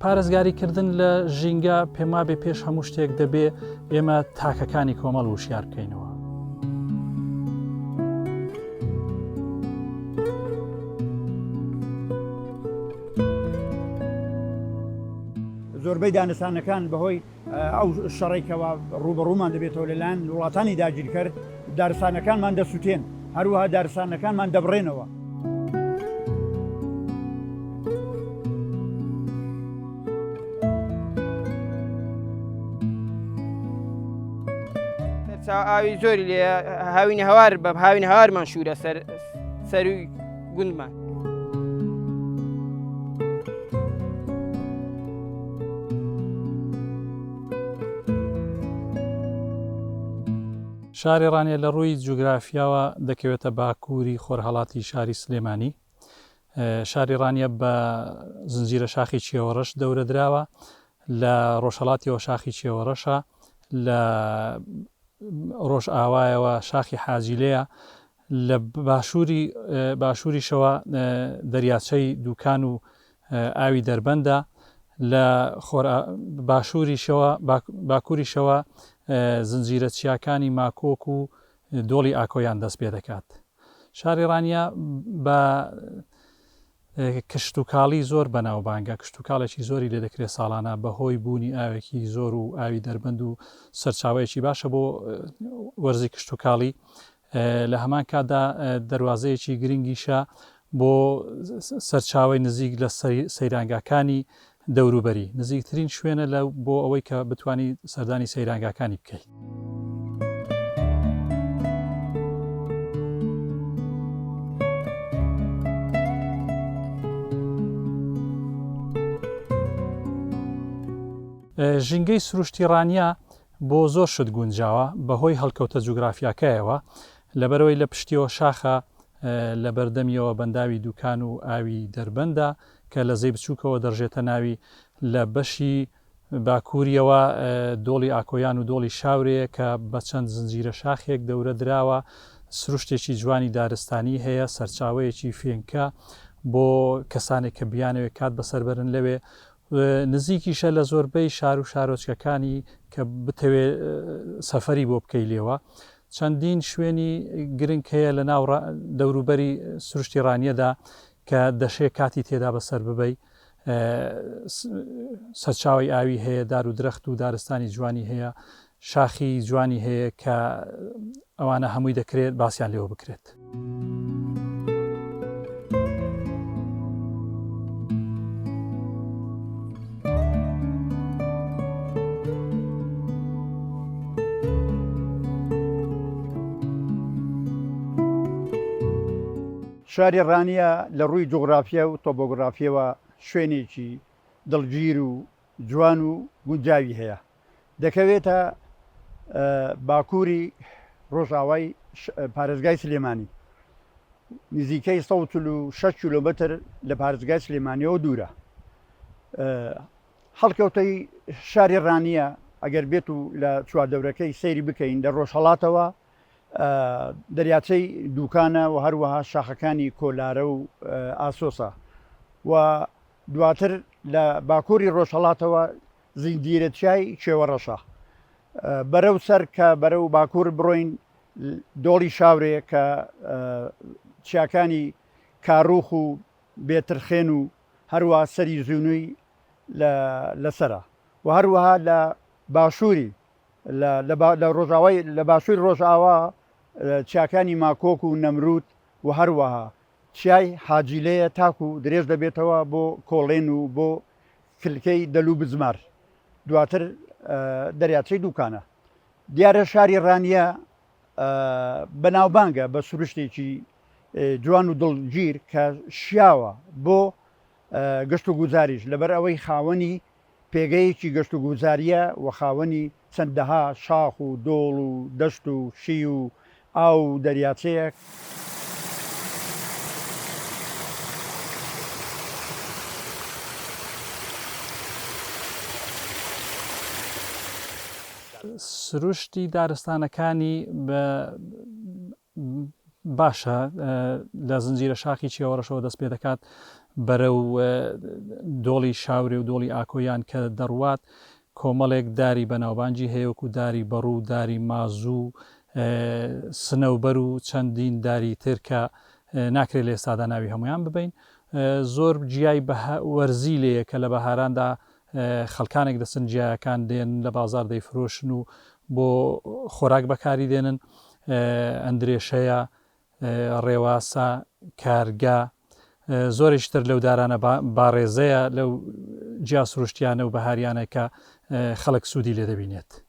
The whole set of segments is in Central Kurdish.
پارێزگاریکردن لە ژینگە پێما بێ پێش هەموو شتێک دەبێ ئێمە تاکەکانی کۆمەڵ وشیار بکەینەوە زۆربەی دانستانەکان بەهۆی ئەو شەڕەی کەوا ڕووبەڕوومان دەبێتەوە لەلایەن وڵاتانی داگیرکەر، دارستانەکانمان دەسوتێن، هەروەها دارستانەکانمان دەبڕێنەوە. سەرچاوە ئاوی زۆری لێیە، هاوینەهەوار بە هاوینەهەوارمان شوورە سەر سەرووی. گوندمان. شاری ڕانیە لە ڕووی جوگرافیاوە دەکەوێتە باکووری خۆرهڵاتی شاری سلێمانی شاری ڕانیە بە زنجیرە شاخی چێوەڕەش دەورە دراوە لە ڕۆژهڵاتیەوە شاخی چێوەڕەشە لە ڕۆژ ئاوایەوە شاخی حاجیلەیە لە باشووری باشووریشەوە دەریاچەی دووکان و ئاوی دەربەندە، لە خۆر باشووریشەوە باکووریشەوە زنجیرە چیاکانی ماکۆک و دۆڵی ئاکۆیان دەست پێ دەکات. شاری ڕانیە بە کشتوکاڵی زۆر بەناوبانگە، کشتوکاڵێکی زۆری لێ دەکرێت ساڵانە بە هۆی بوونی ئاوێکی زۆر و ئاوی دەربەند و سەرچاوەیەکی باشە بۆ وەرزی کشتوکاڵی، لە هەمان کاتدا دەروازەیەکی گرنگیشە بۆ سەرچاوەی نزیک لە سەیرانگاکانی دەوروبەری، نزیکترین شوێنە لە بۆ ئەوەی کە بتانی سەردانی سەیرانگاکانی بکەیت. ژینگەی سروشتی ڕانیە بۆ زۆر شت گونجاوە بەهۆی هەڵکەوتە جوگرافیاکەیەوە لەبەرئەوەی لە پشتیەوە شاخە لە بەردەمیەوە بەنداوی دوکان و ئاوی دەربەندە کە لە زەی بچوکەوە دەڕژێتە ناوی لە بەشی باکوریەوە دۆڵی ئاکۆیان و دۆڵی شاورێیە کە بە چەند زنجیرە شاخێک دەورە دراوە سروشتێکی جوانی دارستانی هەیە سەرچاوەیەکی فێنکە بۆ کەسانێک کە بیانەوێت کات بەسەر بەرن لەوێ و نزیکیشە لە زۆربەی شارو شارۆچکەکانی کە بتەوێ سەفەری بۆ بکەی لێوە چەندین شوێنی گرنگ هەیە لە ناو دەوروبەری سروشتی ڕانیەدا کە دەشێ کاتی تێدا بەسەر ببەی سەرچاوی ئاوی هەیە دارو درەخت و دارستانی جوانی هەیە شاخی جوانی هەیە کە ئەوانە هەمووی دەکرێت باسییان لێوە بکرێت. شاری ڕانیە لە ڕووی جوگرافیە و تۆبۆگرافیەوە شوێنێکی دڵگیر و جوان و گونجاوی هەیە دەکەوێتە باکووری ڕۆژاوای پارێزگای سلێمانی نزیکەی 16 کیلومتر لە پارێزگای سلێمانیەوە دوورە هەڵکەوتەی شاری ڕانیە ئەگەر بێت و لە چواردەورەکەی سەیری بکەین لە ڕۆژهڵاتەوە دەریاچەی دووکانە و هەروەها شاخەکانی کۆلارە و ئاسۆسە و دواتر لە باکووری ڕۆژهەڵاتەوە زنجیرەچیای چێوەڕەشە بەرەو سەر کە بەرەو باکوور بڕۆین دۆڵی شاورێ کە چیاکانی کاروخ و بێترخێن و هەروە سەری زیونوی لەسرە و هەروەها لە باشووری لە ڕۆژاوای لە باشووری ڕۆژاوا چیاکانی ماکۆک و نەمرود و هەروەها چیای حاجی لێیە تاکو درێژ دەبێتەوە بۆ کۆڵێن و بۆ کلکەی دەل و بزمار دواتر دەریاچەی دووکانە دیارە شاری ڕانیە بەناوبانگە بە سروشتێکی جوان و دڵگیر کە شیاوە بۆ گەشت و گوزاریش لەبەر ئەوەی خاوەنی پێگەیەکی گەشتوگوزارییە و خاوەنی چەندەها شاخ و دۆڵ و دەشت و شی و ئاو و دەریاچەیە، سروشتی دارستانەکانی بە باشە لە زنجیرە شاخی چێوەڕەشەوە دەست پێ دەکات بەرەو دۆڵی شاورێ و دۆڵی ئاکۆیان کە دەڕوات کۆمەڵێک داری بەناوبانجی هەیەوەک و داری بەڕوو و داری مازوو سنەوبەر و چەندین داری تر کە ناکرێت لە ئێستادا ناوی هەمویان ببین زۆر جیای وەرزی لەیە کە لە بەهاراندا خەڵکانێک دەچن گیایەکان دێن لە بازار دەیفرۆشن و بۆ خۆراک بەکاری دێنن ئەندرێشەیە ڕێواسە کارگا زۆریش تر لەو دارانە باڕێزەیە لەو جیا سروشتیانە و بەهاریانە کە خەڵک سوودی لێ دەبینێت.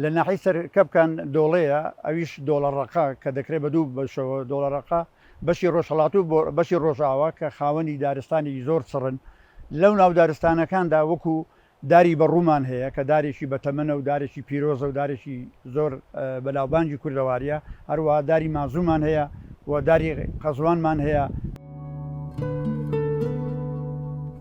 لە ناحیەی سەرکەپکان دۆڵەیە ئەویش دۆڵە ڕەقە کە دەکرێت بە دوو بەشەوە دۆڵە ڕەقە بەشی ڕۆژهەڵات و بەشی ڕۆژاوا کە خاوەنی دارستانێکی زۆر چڕن لەو ناو دارستانەکاندا وەکو داری بەڕوومان هەیە کە دارێکی بەتەمەنە و دارێکی پیرۆزە و دارێکی زۆر بەناوبانگی کوردەواریە هەروەها داری مازوومان هەیە و داری قەزوانمان هەیە.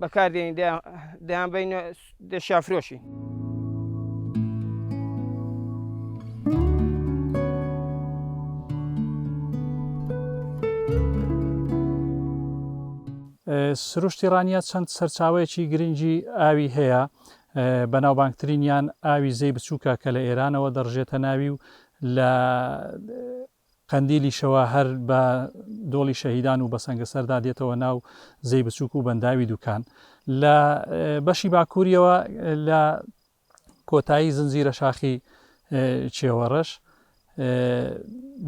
بەکاردێنین دەیان بین دەشیان فرۆشین. سروشتی ڕانیە چەند سەرچاوەیەکی گرنگی ئاوی هەیە بەناوبانگترینیان ئاوی زەی بچووکە کە لە ئێرانەوە دەڕژێتە ناوی و لە قەندیلیشەوە هەر بە دۆڵی شەهیدان و بەسەنگەسەردا دێتەوە ناو زێی بچووک و بەنداوی دوکان لە بەشی باکووریەوە لە کۆتایی زنجیرە شاخی چێوەڕەش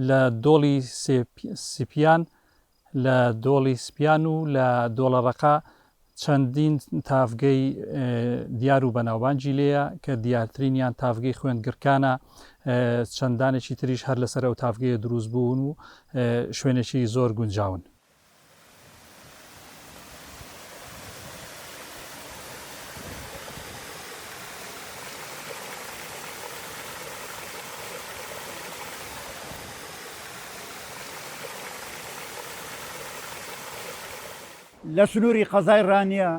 لە دۆڵی سپیان لە دۆڵی سپیان و لە دۆڵە ڕەقا چەندین تاڤگەی دیار و بەناوبانگی لێیە کە دیارترینیان تاڤگەی خوێند گڕکانە، چەندانێکی تریش هەر لەسەر ئەو تاڤگەیە دروست بوون و شوێنێکی زۆر گونجاون. لە سنووری قەزای ڕانیە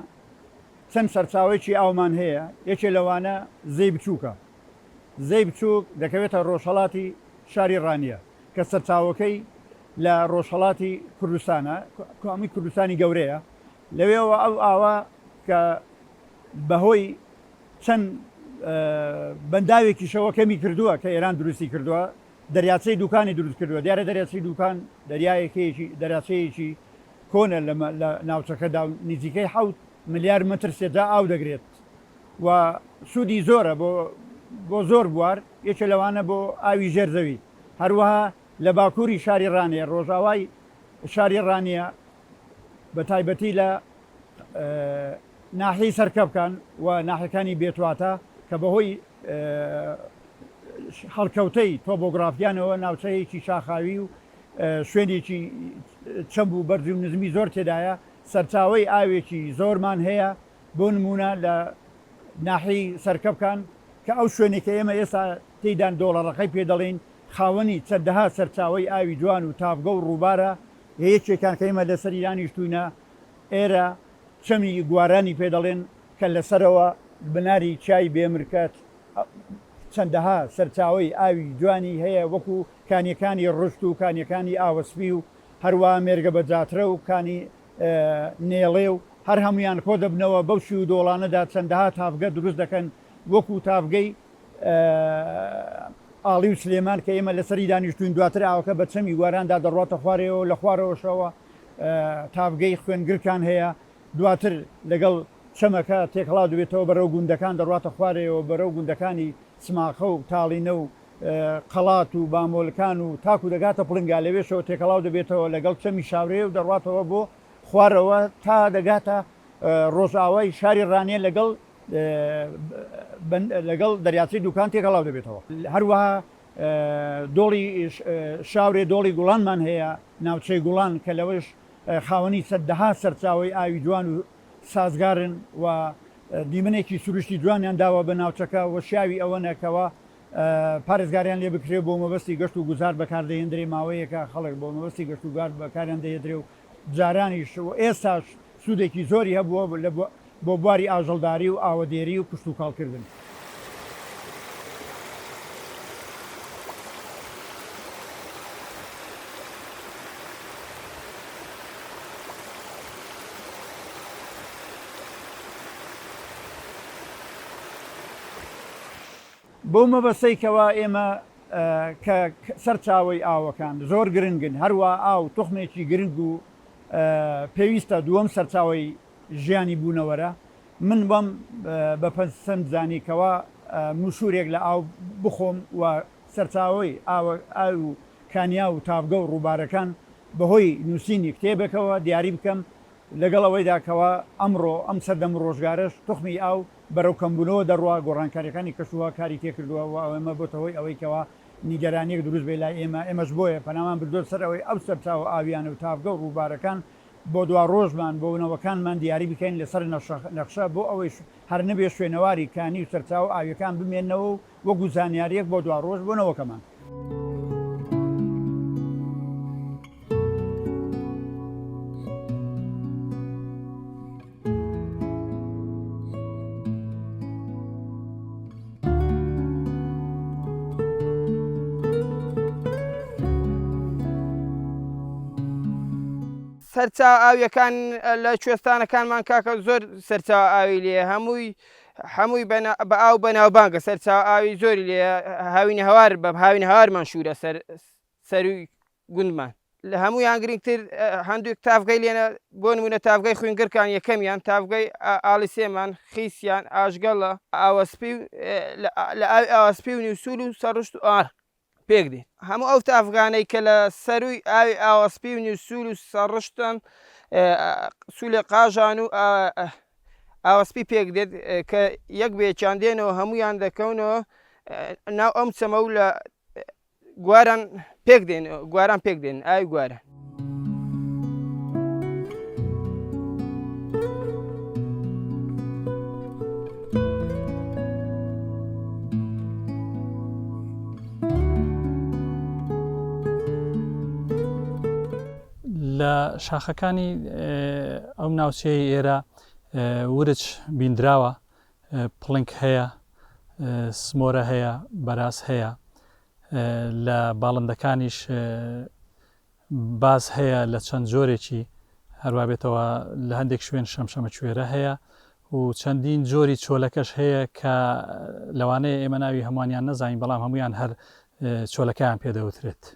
چەند سەرچاوەیەکی ئاومان هەیە، یەکێ لەوانە زێی بچووکە. زێی بچووک دەکەوێتە ڕۆژهەڵاتی شاری ڕانیە. کە سەرچاوەکەی لە ڕۆژهەڵاتی کوردستانە، کامی کوردستانی گەورەیە، لەوێوە ئەو ئاوە کە بەهۆی چەند بەنداوێکیشەوە کەمی کردووە کە ئێران دروستی کردووە، دەریاچەی دووکانی دروست کردووە، دیارە دەریاچەی دووکان دەریایەکەیەکی دەریاچەیەکی کۆنە لە ناوچەکەدا و نزیکەی حەوت ملیار مەتر سێجا ئاو دەگرێت، و سوودی زۆرە بۆ بۆ زۆر بوار، یەکێ لەوانە بۆ ئاوی ژێر زەوی، هەروەها لە باکووری شاری ڕانیە، ڕۆژاوای شاری ڕانیە بە تایبەتی لە ناحیەی سەرکەپکان و ناحیەکانی بێتواتا کە بەهۆی هەڵکەوتەی تۆبۆگرافیانەوە ناوچەیەکی شاخاوی و شوێنێکی چەمب و بەرزی و نزمی زۆر تێدایە، سەرچاوەی ئاوێکی زۆرمان هەیە، بۆ نموونە لە ناحیەی سەرکەپکان کە ئەو شوێنەی کە ئێمە ئێستا تێیدان دۆڵەڕەقەی پێ دەڵێین، خاوەنی چەندەها سەرچاوەی ئاوی جوان و تاڤگە و ڕووبارە، یە یەکێکان کە ئێمە لەسەری دانیشتووینە ئێرە چەمی گوارانی پێ دەڵێن، کە لە سەرەوە بناری چیای بێمرکە چەندەها سەرچاوەی ئاوی جوانی هەیە وەکو کانیەکانی ڕشت و کانیەکانی ئاوەسپی و هەروەها مێرگە بەجاترە و کانی نێڵێ و هەر هەموویان کۆدەبنەوە بەو چی و دۆڵانەدا چەندەها تاڤگە دروست دەکەن وەکوو تاڤگەی، ئاڵی و سلێمان، کە ئێمە لەسەری دانیشتووین دواتر ئاوەکە بە چەمی واراندا دەڕواتە خوارەوە و لە خوارەوەشەوە تاڤگەی، خوێنگرکان، هەیە دواتر لەگەڵ چەمەکە تێکەڵاو دەبێتەوە بەرەو گوندەکان دەڕواتە خوارەوە بەرەو گوندەکانی، سماقە و تاڵینە و قەڵات و بامۆلکان و تاکو دەگاتە پڵنگا، لەوێشەوە تێکەڵاو دەبێتەوە لەگەڵ چەمی شاورێ و دەڕواتەوە بۆ خوارەوە تا دەگاتە ڕۆژئاوای شاری ڕانیە لەگەڵ لەگەڵ دەریاچەی دوکان تێکەڵاو دەبێتەوە. هەروەها دۆڵی شاورێ دۆڵی گوڵانمان هەیە ناوچەی گوڵان کە لەوەش خاوەنی سەددەها سەرچاوەی ئاوی جوان و سازگارن و دیمەنێکی سروشتی جوانیان داوە بە ناوچەکە و شیاوی ئەوەنە کەوا پارێزگاریان لێ بکرێ بۆ مەبەستی گەشت و گوزار بەکار دەهێندرێ ماوەیەکە خەڵک بۆ مەبەستی گەشت و گار بەکاریان دەهێدرێ و جارانیش و ئێستاش سوودێکی زۆری هەبووە لە بۆ بۆ بواری ئاژەڵداری و ئاوەدێری و کشتوکاڵکردن. بەو مەبەستەی کەوا ئێمە کە سەرچاوەی ئاوەکان زۆر گرنگن، هەروا ئاو توخمێکی گرنگ و پێویستە دووەم سەرچاوەی ژیانی بوونەوەرە، من وام بە پەسەند زانی کەوا موشوورێک لە ئاو بخۆم و سەرچاوەی ئاو و کانیاو و تاڤگە و ڕووبارەکان بە هۆی نووسینی کتێبێکەوە دیاری بکەم، لەگەڵ ئەوەیدا کەوا ئەمڕۆ ئەم سەردەم و ڕۆژگارەش توخمی ئاو بەرەو کەمبوونەوە دەڕوا، گۆڕانکاریەکانی کەشوهەوا کاری تێکردووە و ئەمە بۆتە هۆی ئەوەی کەوا نیگەرانیەک دروست بێت لای ئێمە، ئێمەش بۆیە پەنامان بردووە سەر ئەوەی ئەو سەرچاوە ئاویانە و تاڤگە و ڕووبارەکان بۆ دواڕۆژمان بۆ نەوەکانمان دیاری بکەین لەسەر نەخشە بۆ ئەوەیش هەر نەبێ شوێنەواری کانی و سەرچاوە ئاوییەکان بمێنەوە و وەکو زانیارییەک بۆ دواڕۆژ بۆ نەوەکەمان. سەرچا ئاویەکان لە کوێستانەکانمان کاکە زۆر سەرچا ئاوی لێ هەمووی هەمووی بە ئاو بەناوبانگە سەرچا ئاوی زۆری لێ هاوین هەوار بە هاوین هەوارمان شوورە سەر سەروی گوندمان. لە هەموویان گرینگتر هەندووک تاڤگەی لێنە، بۆ نموونە تاڤگەی خوینگڕکان یەکەمیان، تاڤگەی ئاڵی سێمان، خیسیان، ئاژگەڵە، ئاوەسپی و لە ئاوی ئاوەسپی و نیوسول و سەڕشت و ئار پێک دێن. هەموو ئەو تاڤگانەی کە لە سەرووی ئاوی ئاوەسپی و نیوسول و سەڕشتن، سولێ قاژان و ئاوەسپی پێک دێت، کە یەک بە یەکیان دێنەوە هەموویان دەکەونەوە ناو ئەم چەمە و لە گواران پێک دێن گواران پێک دێن ئای گواران لە شاخەکانی ئەم ناوچەیە ئێرە ورچ بیندراوە پڵنک هەیە، سمۆرە هەیە، بەراز هەیە، لە باڵندەکانیش باز هەیە لە چەند جۆرێکی، هەروا بێتەوە لە هەندێک شوێن شەمشەمەکوێرە هەیە و چەندین جۆری چۆلەکەش هەیە کە لەوانەیە ئێمە ناوی هەمووانیان نەزانین بەڵام هەموویان هەر چۆلەکەیان پێ دەوترێت.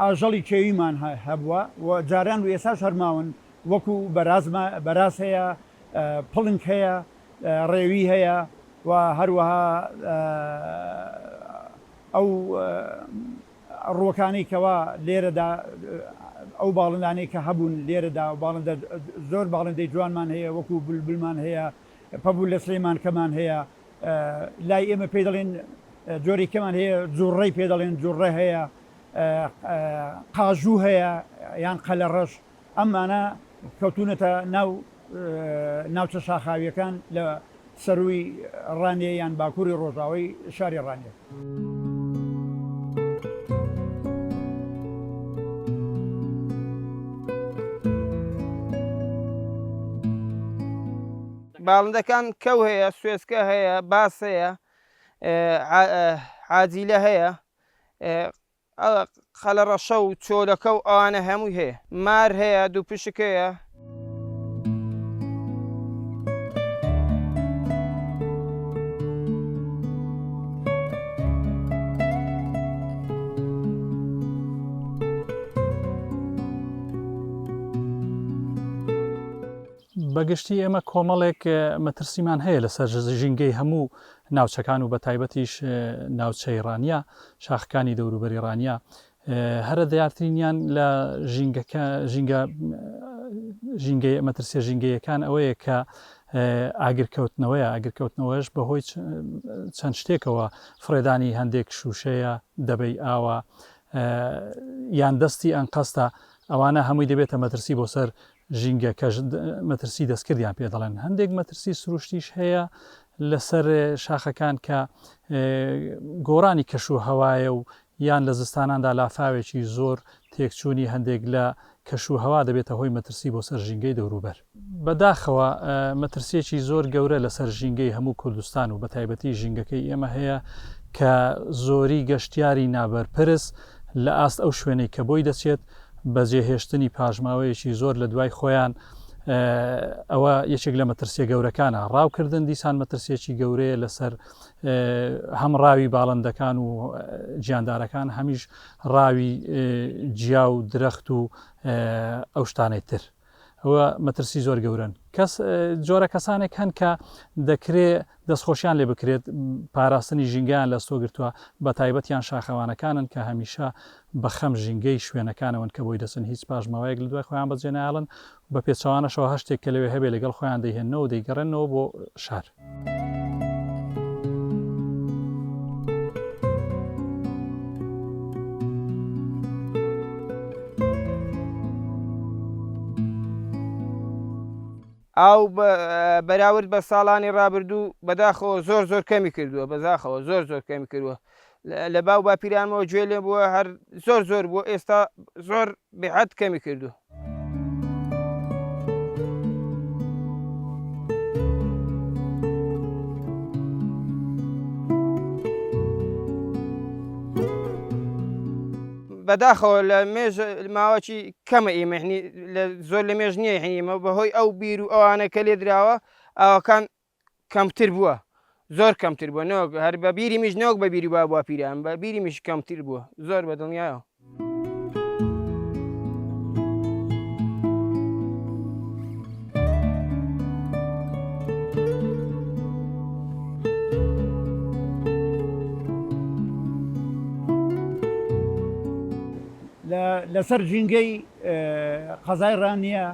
ئاژەڵی کێویمان هەبووە و جاران و ئێستاش هەر ماون، وەکوو بەراز هەیە، پڵنگ هەیە، ڕێوی هەیە و هەروەها ئەو ڕووەکانەی کەوا لێرەدا ئەو باڵندانەی کە هەبوون لێرەدا باڵندە زۆر باڵندەی جوانمان هەیە وەکوو بولبولمان هەیە، پەبوو لە سلێمان کەمان هەیە لای ئێمە پێ دەڵێن جۆری کەمان هەیە جوڕڕی پێ دەڵێن جوڕڕە هەیە قاژوو هەیە یان قەلە ڕەش ئەمانە کەوتونەتە ناو ناوچە شاخاویەکان لە سەروی ڕانێ یان باکووری ڕۆژاوی شاری ڕانێت باڵندەکان کەو هەیە سوێسکە هەیە باس هەیە عاجیلە هەیە قەلەڕەشە و چۆلەکە و ئەوانە هەمووی هەیە. مار هەیە، دووپشک هەیە. بە گشتی ئێمە کۆمەڵێک مەترسیمان هەیە لەسەر ژینگەی هەموو ناوچەکان و بەتایبەتیش ناوچەی ڕانیە، شاخەکانی دەوروبەری ڕانیە هەرە دیارترینیان لە ژینگەکە ژینگە ژینگەی مەترسیە ژینگەیەکان ئەوەیە کە ئاگرکەوتنەوەیە ئاگرکەوتنەوەش بەهۆی چەند شتێکەوە فڕێدانی هەندێک شووشەیە دەبەی ئاوە یان دەستی ئەنقەستە ئەوانە هەمووی دەبێتە مەترسی بۆ سەر ژینگەکەش مەترسی دەستکردیان پێ دەڵێن هەندێک مەترسی سروشتیش هەیە لەسەر شاخەکان کە گۆڕانی کەش و هەوایە و یان لە زستاناندا لافاوێکی زۆر تێکچوونی هەندێک لە کەش و هەوا دەبێتە هۆی مەترسی بۆ سەر ژینگەی دەوروبەر. بە داخەوە مەترسییەکی زۆر گەورە لەسەر ژینگەی هەموو کوردستان و بە تایبەتی ژینگەکەی ئێمە هەیە کە زۆری گەشتیاری نابەرپرس لە ئاست ئەو شوێنەی کە بۆی دەچێت بە جێهێشتنی پاشماوەیەکی زۆر لە دوای خۆیان ئەوە یەکێک لە مەترسیە گەورەکانە ڕاوکردن دیسان مەترسیەکی گەورەیە لەسەر هەم ڕاوی باڵندەکان و گیاندارەکان هەمیش ڕاوی جیا و درەخت و ئەو شتانەی تر ئەوە مەترسی زۆر گەورەن. کەس جۆرە کەسانێک هەن کە دەکرێ دەستخۆشیان لێ بکرێت پاراستنی ژینگەیان لەستۆ گرتووە، بە تایبەتیان شاخەوانەکانن کە هەمیشە بە خەم ژینگەی شوێنەکانەوەن کە بۆی دەچن هیچ پاشماوەیەک لەدوای خۆیان بەجێنایەڵن و بە پێچەوانەشەوە هەر شتێک کە لەوێ هەبێ لەگەڵ خۆیان دەیهێننەوە و دەیگەڕێننەوە بۆ شار. ئاو بەراورد بە ساڵانی ڕابردوو بەداخەوە زۆر زۆر کەمی کردووە بەزاخەوە زۆر زۆر کەمی کردووە لە باو باپیرانمەوە گوێ لێ بووە هەر زۆر زۆر بووە ئێستا زۆر بێحەد کەمی کردو. بەداخەوە لە مێژ ماوەکی کەمە ئیمەحنی زۆر لە مێژ نییە هەنیمە بەهۆی ئەو بیر و ئەوانە کە لێ دراوە ئاوەکان کەمتر بووە زۆر کەمتر بووە نەوەک هەر بە بیری میش نەوەک بە بیری بابووە پیران بە بیری میش کەمتر بووە زۆر بە دڵنیایەوە. لەسەر ژینگەی قەزای ڕانیە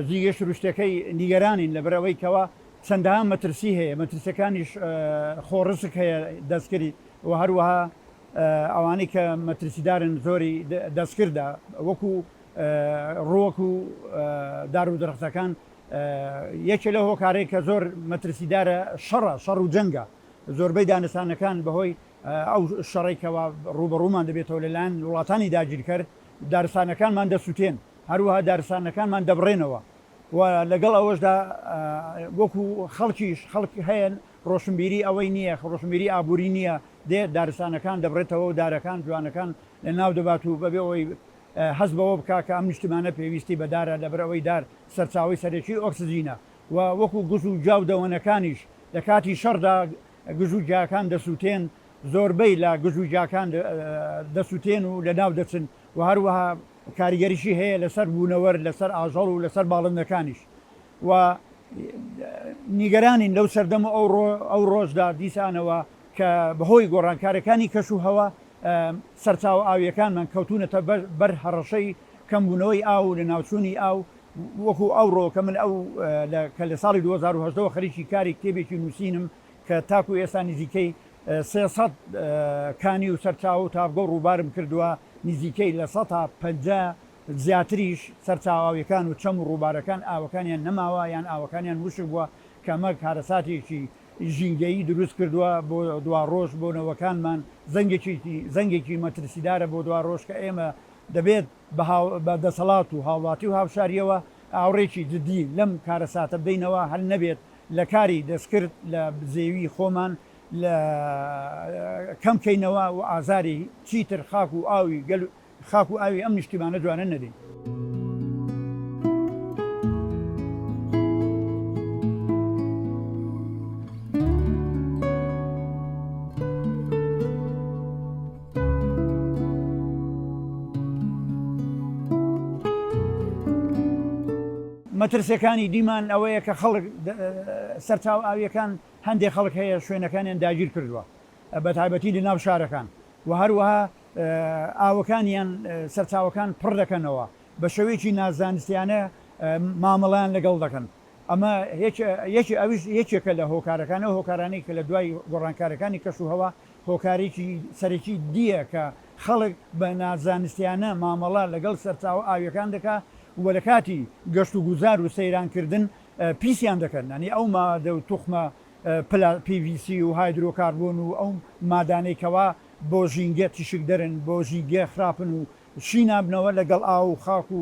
جیگەی سروشتەکەی نیگەرانین لەبەرئەوەی کەوا چەندەها مەترسی هەیە مەترسەکانیش خۆ ڕسک هەیە دەستکری و هەروەها ئەوانەی کە مەترسیدارن زۆری دەستکردە وەکو ڕوەک و دار و درختەکان یەکێ لە هۆکارێک کە زۆر مەترسیدارە شەڕە شەڕ و جەنگە زۆربەی دانسانەکان بەهۆی ئەو شەڕێکەوە ڕوبەڕوومان دەبێتەوە لەلایەن وڵاتانی داگیرکەر دارستانەکانمان دەسووتێن هەروەها دارستانەکانمان دەبڕێنەوە و لەگەڵ ئەوەشدا وەکو خەڵکیش خەڵک هەیە ڕۆشنبیری ئەوەی نییە، ڕۆشنبیری ئابووری نییە، دێت دارستانەکان دەبڕێتەوە و دارەکان جوانەکان لەناو دەبات و بەبێ ئەوەی هەست بەوە بکات کە ئەم نیشتمانە پێویستی بە دارە، لەبەر ئەوەی دار سەرچاوەی سەرەکیی ئۆکسجینە و وەکو گژ و گیا و دەوەنەکانیش لە کاتی شەڕدا گژ و گیاکان دەسووتێن، زۆربەی لە گژ و گیاکان دەسووتێن و لەناو دەچن و هەروەها. کاریگەریی هەیە لەسەر بوونەوەر، لەسەر ئاژەڵ و لەسەر باڵندەکانیش و نیگەرانین لەو سەردەم و ئەو ڕۆژدا دیسانەوە کە بەهۆی گۆڕانکارییەکانی کەشوهەوا سەرچاوە ئاوییەکانمان کەوتوونەتە بەر هەڕەشەی کەمبوونەوەی ئاو و لەناوچوونی ئاو وەکوو ئەوڕۆ کە من ئەو کە لە ساڵی دوو هەزار و هەژدە وە خەریکی کاری کتێبێکی نووسینم کە تاکوو ئێستا نزیکەی سێ سەد کانی و سەرچاوە و تاڤگە و ڕووبارم کردووە، نزیکەی لە سەتا پەنجا زیاتریش سەرچاوە ئاوییەکان و چەم و ڕووبارەکان ئاوەکانیان نەماوە یان ئاوەکانیان وشک بووە، کە ئەمە کارەساتێکی ژینگەیی دروست کردووە بۆ دواڕۆژ بۆ نەوەکانمان، زەنگێکی زەنگێکی مەترسیدارە بۆ دواڕۆژ کە ئێمە دەبێت. بە دەسەڵات و هاوڵاتی و هاوشاریەوە ئاوڕێکی جدی لەم کارەساتە بدەینەوە هەر نەبێت لە کاری دەستکرد لە بزێوی خۆمان لە کەم کەینەوە و ئازاری چیتر خاک و ئاوی گەل خاک و ئاوی ئەم نیشتیمانە جوانە نەدەین. مەترسیەکانی دیمان ئەوەیە کە خەڵک سەرچاو ئاویەکان هەندێک خەڵک هەیە شوێنەکانیان داگیر کردووە بە تایبەتی لە ناو شارەکان و هەروەها ئاوەکانیان سەرچاوەکان پڕ دەکەنەوە بە شێوەیەکی نازانستیانە مامەڵیان لەگەڵ دەکەن ئەمە یەکی ئەویش یەکێکە لە هۆکارەکانە هۆکارانی کە لە دوای گۆڕانکارەکانی کەش و هەوا هۆکارێکی سەرەکی دییە کە خەڵک بە نازانستیانە مامەڵە لەگەڵ سەرچاوە ئاوییەکان دەکا و لە کاتی گەشت و گوزار و سەیران کردن پیسیان دەکەن، یانی ئەو مادە و توخمە پلا، PVC، و هایدرۆکاربۆن و ئەو مادانەی کەوا بۆ ژینگە تیشکدەرن، بۆ ژینگە خراپن و شی نابنەوە، لە گەڵ ئاو و خاک و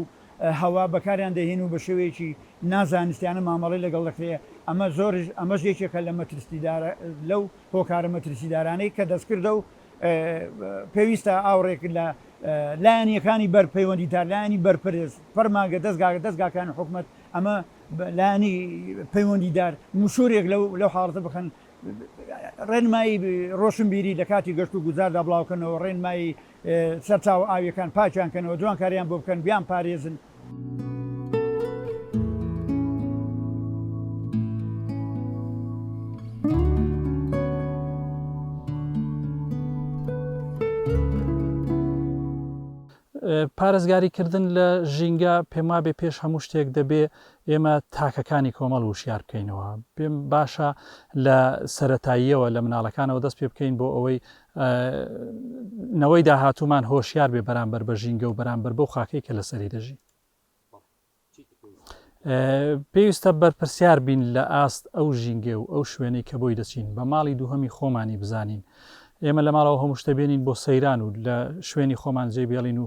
هەوا بەکاریان دەهێن و بە شێوەیەکی نازانستیانە مامەڵەی لەگەڵ دەکرێ، ئەمە زۆرش ئەمەش یەکێکە لە مەترسیدارە لەو. هۆکارە مەترسیدارانەی کە دەستکردە و پێویستە ئاوڕێک لە لایەنیەکانی بەر پەیوەندیدار لایەنی بەرپرس فەرمانگە دەستگاگە دەستگاکانی حکومت ئەمە لانی پەیوەندیدار مشورێک لەو حاڵەتە بخەن ڕێنمایی ڕۆشنبیری لە کاتی گەشت و گوزاردا بڵاوکەنەوە ڕێنمایی سەرچاوە ئاوییەکان پاکیان کەنەوە، جوانکارییان بۆ بکەن، بیانپارێزن. پارێزگاریکردن لە ژینگە، پێموابێ پێش هەموو شتێک دەبێ ئێمە تاکەکانی کۆمەڵ وشیار بکەینەوە. پێم باشە لە سەرەتاییەوە لە مناڵەکانەوە دەست پێ بکەین بۆ ئەوەی نەوەی داهاتوومان هۆشیار بێ بەرامبەر بە ژینگە و بەرامبەر بەو خاکەی کە لەسەری دەژی پێویستە بەرپرسیار بین لە ئاست ئەو ژینگە و ئەو شوێنەی کە بۆی دەچین بە ماڵی دووهەمی خۆمانی بزانین ئێمە لە ماڵەوە هەموو شتەبێنین بۆ سەیران و لە شوێنی خۆمان جێبێڵین و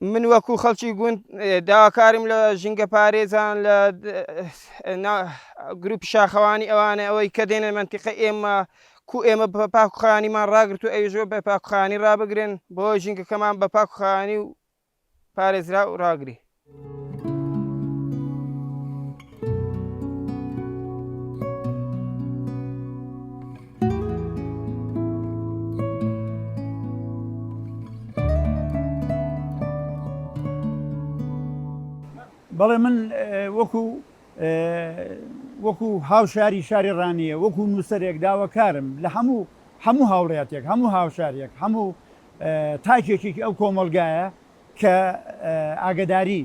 من وەکو خەڵکی گوند داواکارم لە ژینگە پارێزان لە گروپی شاخەوانی ئەوانە ئەوەی کە دێنە منتیقە ئێمە کو ئێمە بە پاکخانیمان ڕاگرت و ئەوژۆ بە پاکخانی ڕابگرن بۆ ژینگەکەمان بە پاکخانی و پارێزرا و ڕاگری. بەڵێ من وەکو وەکو هاوشاری شاری ڕانیە وەکو نووسەرێک داواکارم لە هەموو هەموو هاوڵاتێک هەموو هاوشارێک هەموو تاکێکێکی ئەو کۆمەلگایە کە ئاگەداری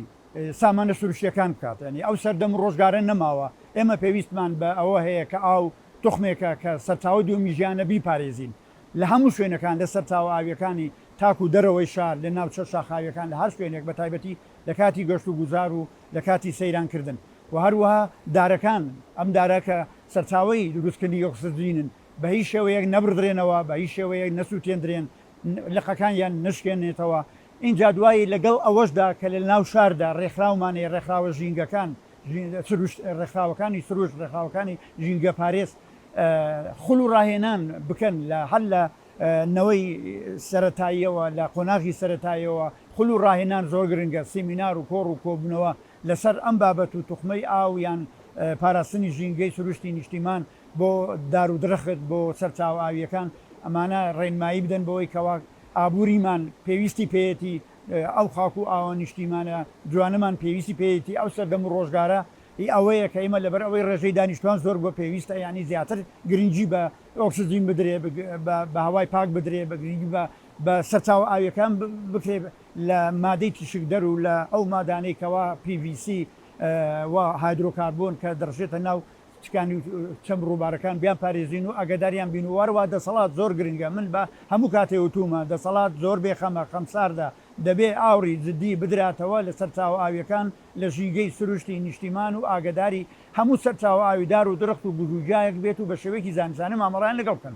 سامانە سروشتیەکان بکات یانی ئەو سەردەم و ڕۆژگارە نەماوە ئێمە پێویستمان بە ئەوە هەیە کە ئاو توخمێکە کە سەرچاوەی دووەمی ژیانە بیپارێزین لە هەموو شوێنەکان لە سەرچاوە ئاویەکانی تاکو دەرەوەی شار لە ناوچە شاخاویەکان لە هەر شوێنێک بە تایبەتی لە کاتی گەشت و گوزار و لە کاتی سەیران کردن و هەروەها دارەکان ئەم دارە کە سەرچاوەی دروست کردنی ئۆکسجینن بە هیچ شێوەیەک نەبڕدرێنەوە بە هیچ شێوەیەک نەسوتێندرێن لقەکانیان نەشکێنێتەوە، ئینجا دوایی لەگەڵ ئەوەشدا کە لە ناو شاردا ڕێکخراومانەیە، ڕێکخراوە ژینگەکان، سروشت، ڕێکخراوەکانی سروشت، ڕێکخراوەکانی ژینگەپارێز خول و ڕاهێنان بکەن لە هەر لە نەوەی سەرەتاییەوە، لە قۆناغی سەرەتاییەوە خول و ڕاهێنان زۆر گرنگە، سیمینار و کۆڕ و کۆبوونەوە لەسەر ئەم بابەت و توخمەی ئاو یان پاراستنی ژینگەی سروشتی نیشتیمان بۆ دار و درەخت، بۆ سەرچاوە ئاوییەکان، ئەمانە ڕێنمایی بدەن بەوەی کەوا ئابووریمان پێویستی پێیەتی، ئەو خاک و ئاوە نیشتیمانە جوانەمان پێویستی پێیەتی، ئەو سەردەم و ڕۆژگارە هی ئەوەیە کە ئێمە لەبەر ئەوەی ڕێژەی دانیشتوان زۆر بووە پێویستە یانی زیاتر گرنگی بە ئۆکسجین بدرێ، بە هەوای پاک بدرێ، بە گرنگی بە بە سەرچاوە ئاویەکان بکرێ لە مادەی تیشکدەر و لە ئەو مادانەی کەوا پی ڤی سی و هایدرۆکاربۆن کە دەڕژێتە ناو تکانی و چەم ڕووبارەکان بیان پارێزین و ئاگەداریان بین و وەرەوە دەسەڵات زۆر گرنگە من بە هەموو کاتێ وتوومە دەسەڵات زۆر بێخەمە خەمساردە دەبێ ئاوڕی جدی بدراتەوە لە سەرچاوە ئاویەکان لە ژینگەی سروشتی نیشتیمان و ئاگەداری هەموو سەرچاوە ئاوی دار و درخت و گژوگیایەک بێت و بە شێوەیەکی زانستانە مامەڵەیان لەگەڵ بکەن.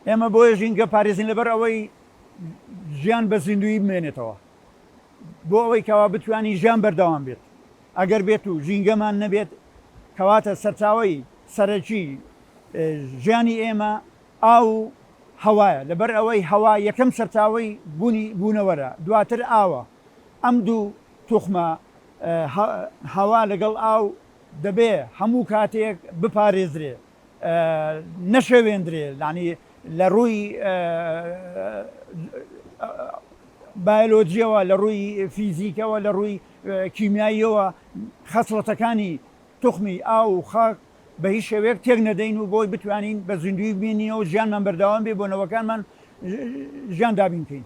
ئێمە بۆیە ژینگە پارێزین لەبەر ئەوەی ژیان بە زیندوویی بمێنێتەوە بۆ ئەوەی کەوا بتوانین ژیان بەردەوام بێت ئەگەر بێت و ژینگەمان نەبێت کەواتە سەرچاوی سەرەکی ژیانی ئێمە ئاو و هەوایە لەبەر ئەوەی هەوا یەکەم سەرچاوی بوونی بوونەوەرە دواتر ئاوە ئەم دوو توخمە هەوا لەگەڵ ئاو دەبێ هەموو کاتێک بپارێزرێ نەشێوێندرێ یانی لە ڕووی بایۆلۆجیەوە لە ڕووی فیزیکەوە لە ڕووی کیمیاییەوە خەسڵەتەکانی توخمی ئاو و خاک بە هیچ شێوەیەک تێک نەدەین و بۆی بتوانین بە زیندوی بینینەوە ژیانمان بەرداوام بێ بۆ نەوەکانمان ژیان دابین بکەین.